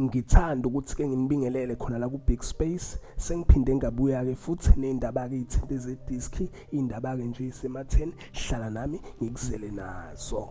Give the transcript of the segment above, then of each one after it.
Ngithanda ukuthi ke nginibingelele khona la ku Big Space sengiphinde ngabuya ke futhi nezindaba ke ithinte ze disc indaba ke nje isematheni hlala nami ngikuzele nazo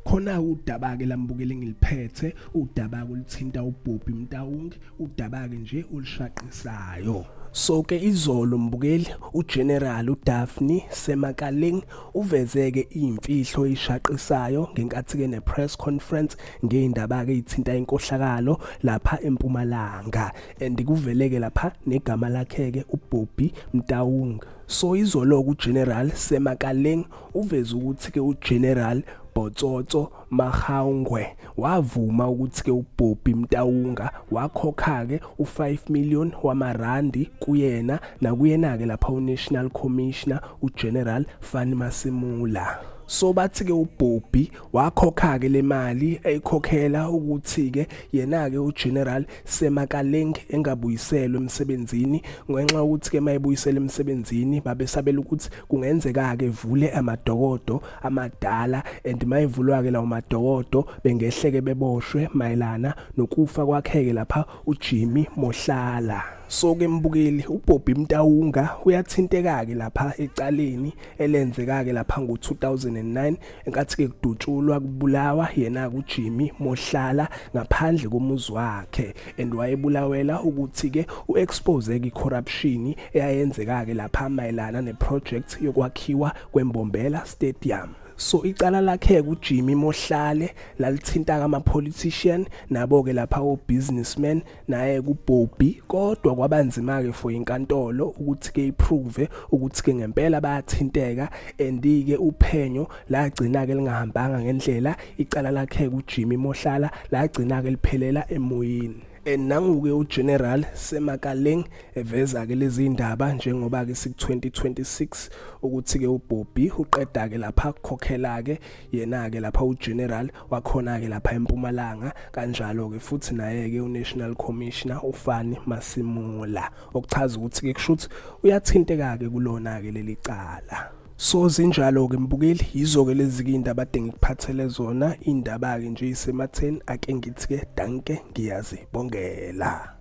khona udaba ke lambukele ngiliphethe udaba kulithinta ubhobhi mtawungi udaba ke nje olishaqisayo so ke izolo mbukeli uGeneral uDaphne Semakaling uvezeke imfihlo ishaqisayo ngenkathi ke nepress conference ngeyindaba ke ithinta inkohlakalo lapha empumalanga and kuveleke lapha negama lakhe ke uBobby Mtaung so izolo kuGeneral Semakaleng uveze ukuthi ke uGeneral Botsotso Mahaungwe wavuma ukuthi ke uBobby Mtaunga wakhokha ke u5 million wamarandi kuyena nakuyena ke lapha uNational Commissioner uGeneral Fani Masimula so bathi ke uBobby wakhokha-ke le mali eyikhokhela ukuthi-ke yena-ke ugeneral semakaleng engabuyiselwe emsebenzini ngenxa yokuthi-ke uma ebuyisela emsebenzini babesabela ukuthi kungenzeka-ke vule amadokodo amadala and uma evulwa-ke lawo madokodo bengehleke beboshwe mayelana nokufa kwakheke lapha ujimmy mohlala so ke mbukeli uBobby Mtawunga uyathinteka ke lapha ecaleni elenzeka ke lapha ngo2009 enkathi ke kudutshulwa kubulawa yena kuJimmy Mohlala ngaphandle komuzi wakhe and wayebulawela ukuthi ke uexpose ke corruption eyayenzeka ke lapha mayelana neproject yokwakhiwa kweMbombela Stadium so icala lakhe kuJimmy Mohlale lalithinta kama politician nabo ke lapha o businessman naye kubhobhi kodwa kwabanzima ke for inkantolo ukuthi ke iprove ukuthi ke ngempela bayathinteka andike uphenyo lagcina ke lingahambanga ngendlela icala lakhe kuJimmy Mohlala lagcina ke liphelela emoyeni nanguke uGeneral Semakaleng eveza ke lezi indaba njengoba ke siku 2026 ukuthi ke uBobby uqeda ke lapha khokhela ke yena ke lapha uGeneral wakhona-ke lapha empumalanga kanjalo-ke futhi naye-ke unational commissioner ufani masimula okuchaza ukuthi-ke kusho ukuthi uyathinteka-ke kulona-ke leli cala so zinjalo-ke mbukeli yizo-ke lezi-ke iy'ndaba ade ngikuphathele zona iy'ndaba-ke nje isematheni ake ngithi-ke danke ngiyazibongela